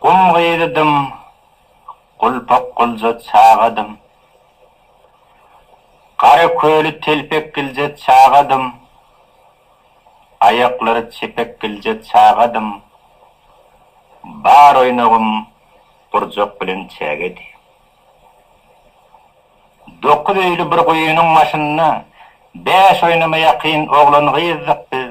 Gum gyzydym, gulpak gulja çagadym. Gara köli telpek gilje çagadym. Aýaklary çepek gilje çagadym. Bar oýnagym gurjak bilen çägedi. Dokuz öýli bir guýynyň başynda bäş oýnama ýakyn oglan-gyzdyk biz.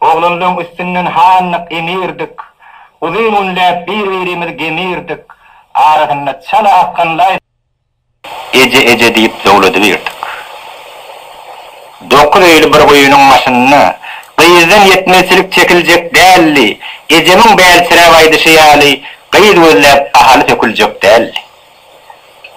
Oglanlaň üstünden handyk emirdik, Uzyn günläp bir-birimiz gemirdik, Arasynda çala akgan laý. Eje, eje diýip zowladybirdik. Dokuz öýli bir guýynyň başynda, Gyzdan ýetmezçilik çekiljek däldi, Ejemiň bälsiräp aýdyşy ýaly, Gyz gözläp ahaly söküljek däldi.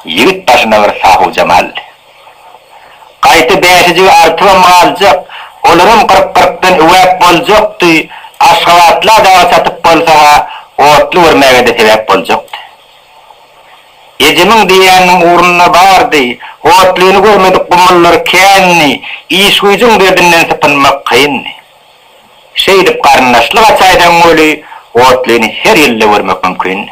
Ýigit başyna bir sahuwjam aldy. Gaýta bäşijigi artybam galjak, olaram gyryk-gyrykdan üwäp boljakdy, aşgabatla dagy satyp bolsa-ha, otly görmäge-de sebäp boljakdy. Ejemiň diýýäniniň ugruna bardy, otlyny görmedik gumullar kändi, iş-güýjüň derdinden sypynmak kyndy. Şeýdip garyndaşlyk açaýsaň weli, otlyny her ýylda görmek mümkindi.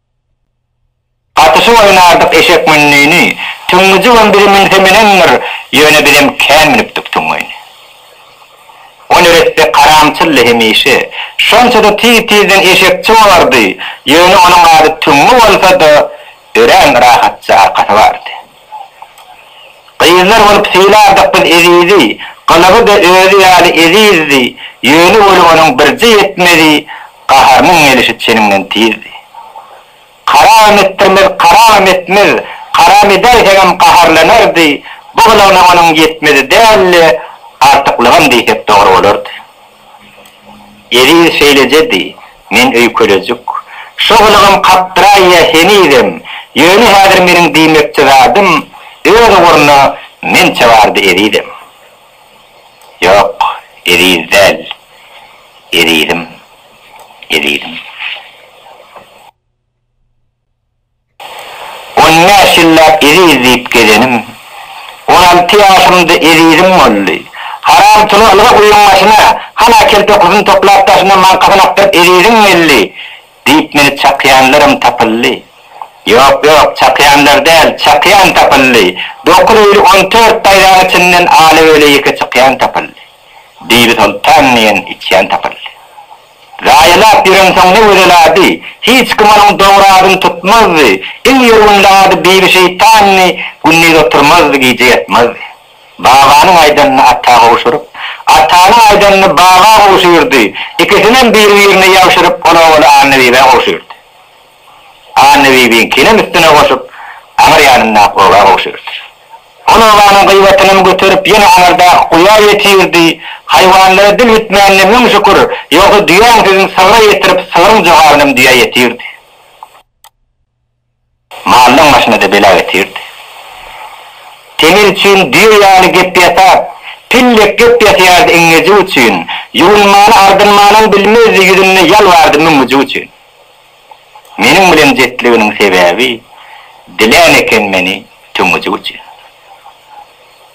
Gatyşyp oýnardyk eşek mündini, Tüňňüjigem biri münse menendir, Ýöne bizem kän münüpdik tüňňini. O neresse karamçyldy hemişe, Şonça-da tiz-tizden eşekçi bolardy, Ýöne onuň ady Tüňňi bolsa-da, Örän rahatja arkasy bardy. Gyzlar bolup sylardyk biz Ezizi, Gylygy-da özi ýaly ezizdi, Ýöne weli onuň birje ýetmezi, Gaharynyň gelişi çeniňden tizdi. Karamam etdirmez, karamam etmez, Karam edäýseňem gaharlanardy, Bu gylygyna onuň ýetmezi däl-de, Artyklygam diýsek dogry bolardy. Eziz şeýlejedi, men öýkelejik. Şo gylygym kakdyraýýa henizem, ýöne häzir meniň diýmekçi zadym öz ugruna mençe bardy ezizem. Ýok, eziz däl. Ezizim. Ezizim. On bäş ýyllap Eziz diýip gezenim, On alty ýaşymda ezizim boldy. Haram çuly ylga guýyň başyna, Han Akel tokusyny toplap daşyna, Maňkasyny akdyryp Eziziň geldi, Diýip meni çakýanlaram tapyldy. Ýok, ýok, çakýanlar däl, çakýan tapyldy, Dokuz öýli on dört daýzaň içinden Ala-göle ýeke çykýan tapyldy. Bibi Soltan diýen içýan tapyldy. Zaýalap ýörensoň ne gözelady, Hiç kim onuň dogradyn tutmazdy, Iň ýörgünli ady Bibi şeýtandy, Gündiz oturmazdy, gije ýatmazdy. Babanyň aýdanyny ata gowşuryp, Atanyň aýdanyny baba gowşyrdy, Ikisinem biri-birine ýabşyryp, Ol owaly Annabibä gowşyrdy. Annabibiňkinem üstüne goşup, aňyr ýanyndaky oba gowşurdy. Ol obanyň gybatynam göterip, ýene aňyrdaky guýa ýetirdi. Haýwanlara dil bitmänine müň şükür, ýogsa düýäň südün sygra ýetirip, sygryň jogabynam düýä ýetirdi. Maldan başyna-da bela getirdi. Temel üçin düýe ýaly gep ýasap, pillek gep ýasýardy iňňejik üçin, ýuwunmany-ardynmanam bilmezdi, ýüzünde ýal bardy müňňüjik üçin. Meniň bilen jetliginiň sebäbi, dilän eken meni tüňňüjik üçin.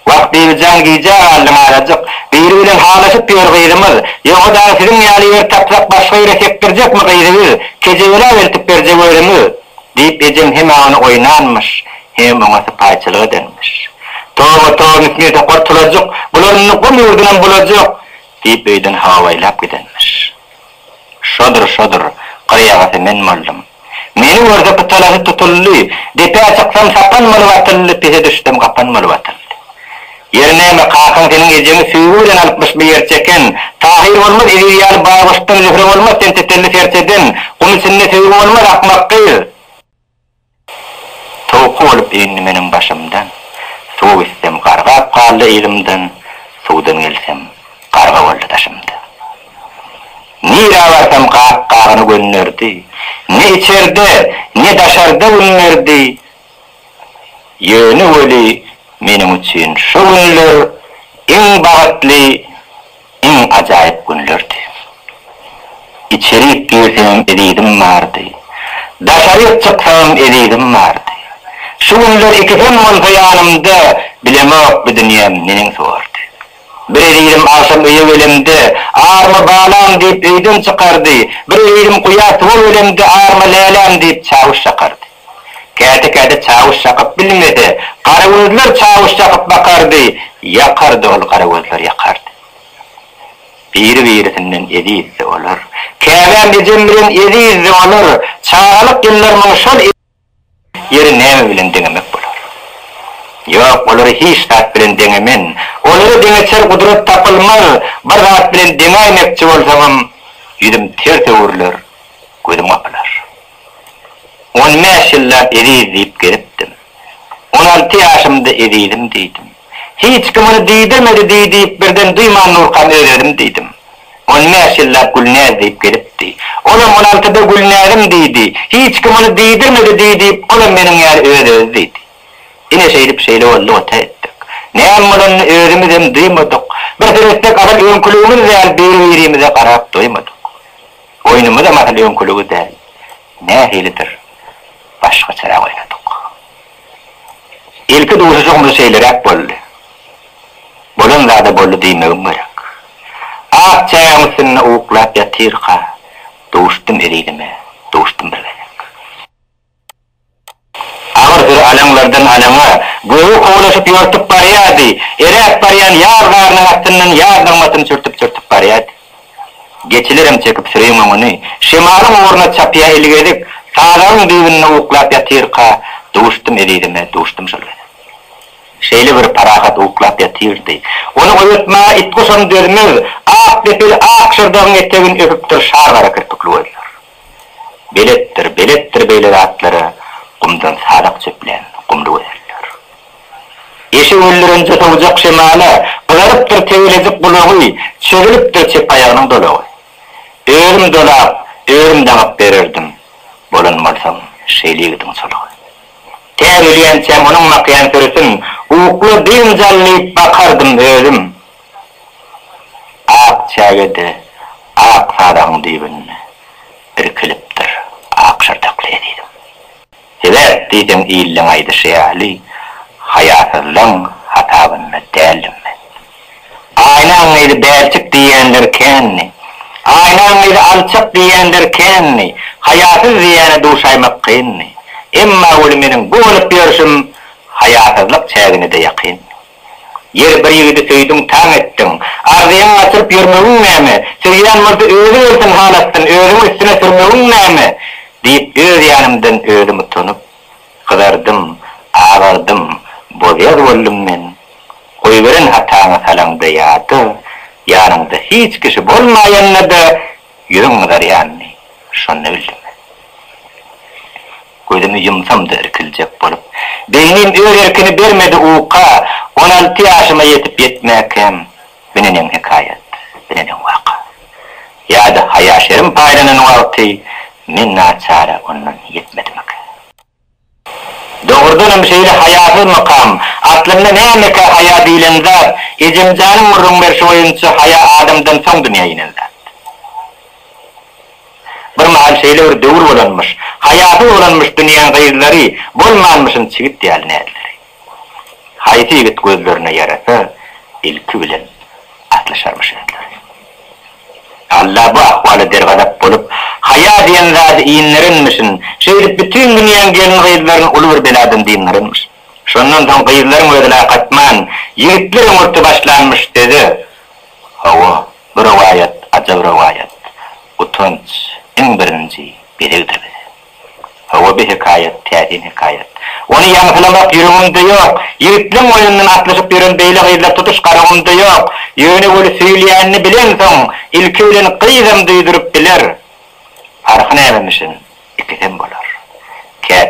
Wah, Bibijan, gijä galdyň azajyk. Biri bilen halaşyp ýör gyzymyz. Ýogsa dagy siziň ýaly ýer tapsak, başga ýere sekdirjekmi gyzy biz? Kejebelap eltip berjek özümiz, diýip, ejem hemä ony oýnanmyş, hemem oňa sypaýyçylyk edenmiş. Toba-to, Müsnir topar tulajyk, bular indi gum ýurdunam bulajak, diýip, öýden hawaýlap gidenmiş. Şodur, şodur. Gyrýagasy men boldum. Meni görse pytalasy tutuldy. Depä çyksam sapan bolup atyldy, pise düşsem gapan bolup atyldy. Ýeri näme, kakaň seniň ejeňi süýgi bilen alypmyş bu ýer çeken. Tahyr bolmaz Eziz ýaly baý goşdan zühre bolmaz sen tetelli serçeden. Gum içinde söýgi bolmaz akmak gyz. Towky bolup indi meniň başymdan, Suw içsem gargap galdy yzymdan, Suwdan gelsem garga boldy daşymda. Nirä barsam gap-gagyny gönderdi, Ne içerde, ne daşarda gün berdi. Ýöne weli meniň üçin şu günler iň bagytly, Iň ajaýyp günlerdi. Içerik girseňem ezizim bardy. Daşaryk çyksaňam ezizim bardy. Şu günler ikisem bolsa ýanymda Bilemok bu dünýäm neneň zordy. Bir ezizim agşam öýe gelemde Arma balam diýip öýden çykardy. Bir ezizim guýa suwa gelemde Arma läläm diýip çawuş çakardy. Käte-käte çawuş çakyp bilmese, garagözler çawuş çakyp bakardy, ýakardy ol garagözler ýakardy. Biri-birisinden ezizdi olar. Käbäm ejem bilen ezizdi olar. Çagalyk ýyllarymyň şol ezil ýeri näme bilen deňemek bolar? Ýok, olary hiç zat bilen deňemen. Olary deňeçer gudrat tapylmaz. Bir zat bilen deňäýmekçi bolsaňam, ýüzüm ters öwrüler, gözüm gapylar. On bäş ýyllap Eziz diýip gezipdim. On alty ýaşymda Ezizim diýdim. Hiç kim ony diýdirmedi diý diýip birden duýman Nurkan öz-özüm diýdim. On bäş ýyllap Gülnäz diýip gezipdi. Olam on altyda Gülnäzim diýdi. Hiç kim ony diýdirmedi diý diýip olam meniň ýaly öz-özi diýdi. Ine şeýdip şeýle boldy ota etdik. Näme bolanyny özümizem duýmadyk. Bir seretsek azal öňküligimiz däl biri-birimize garap doýmadyk. Oýnumyzam asyl öňküligi däl, nähilidir, başgaçarak oýnadyk. Ilki duşuşygymyz şeýleräk boldy. Bolan zada boldy diýmegim gerek. Ak çägem üstünde uklap ýatyrka, duşdum ezizime, duşdum bir gezek. Agyr bir alaňlardan alaňa, gögi kowlaşyp ýortup barýardy, eräp barýan ýaz garynyň astyndan ýaz nygmatyny sürtüp-sürtüp barýardy. Geçilerem çekip süriň öňüni, şemalyň ugruna çapýa ilgezik, sazagyň düýbünde uklap ýatyrka, duşdum ezizime, duşdum şol gezek. Şeýle bir parahat uklap ýatyrdy, ony oýatmaga it-guşam dözmez, ak depeli ak şyrdagyň etegini öpüpdir şar gara kirpikli gözler. Beletdir, beletdir beýle zatlara gumdan sadak çöplän gumly gözeller. Eşek öldürenje sowjak şemala gyzarypdyr tegelejik gulagy, çözülipdir çep aýagynyň dolagy. Özüm dolap, özüm daňyp bererdim, bolan bolsam şeýle ýigidiň çolagy. Tä ölýänçäm onuň makýan sürisin ukla-biynjal diýip bakardym özüm. Ak çäge-de ak sadagyň düýbünde irkilipdir ak şyrdakly ezizim. Sebäp diýseň illeň aýdyşy ýaly haýasyzlaň hasabynda däldim men. Aýnaň gyzy bälçik diýýänler kändi. Aýnaň gyzy alçak diýýänler kändi. Haýasyz diýýäne duşaýmak kyndy. Emma weli meniň bu bolup ýörşüm haýasyzlyk çägine-de ýakyndy. Ýeri bir ýigidi söýdüň taň etdiň. Arzyýaňy gaçyryp ýörmegiň näme? Söýýän bolsa özi gelsin hal atsyn, özüňi üstüne sürmegiň näme? diýip öz ýanymdan özüm utanyp, gyzardym, agardym, bozýaz boldum men. Goýberen hataňy salaňda ýada, ýanyňda hiç kişi bolmaýanda-da Ýüzüň gyzarýanyny şonda bildim. Gözümi ýumsam-da irkiljek bolup, beýnim öz erkini bermedi uka, on alty ýaşyma ýetip-ýetmäkem, bineneň hekaýat, bineneň waka. Ýa-da haýa-şerim paýlanan wagty men naçara ondan ýetmedimikä? Dogrudan hem şeýle haýasyz mykam. Aslynda nämekä haýa diýlen zat? Ejemjanyň gürrüň berşi boýunça haýa adamdan soň dünýä inen zat. Bir mahal şeýle bir döwür bolanmyş. Haýasyz bolanmyş dünýäň gyzlary, bolmanmyşyn çigit ýaly näzleri. Haýsy ýigit gözlerine ýarasa, ilki bilen atlaşarmyş özleri. Alla bu ahwala dergazap bolup, haýa diýen zady inderenmişin, şeýdip bütin dünýäň gelin-gyzlaryny uly bir beladan dyndaranmyş. Şondan soň gyzlaryň özi lak atman, ýigitler öňürti başlanmyş söze. Hawa, bu rowaýat ajap rowaýat. Utanç, iň birinji, gezegdir bize. Hawa bi hekaýat, täsin hekaýat. Ony ýaňsylamak ýüregimde ýok. Ýigitleň boýnundan atlyşyp ýören beýle gyzlar tutuş Garagumda ýok. Ýöne weli söýülýänini bilensoň, ilki bilen gyzam duýduryp biler. Parhy nämemişin, ikisem bolar. Kä.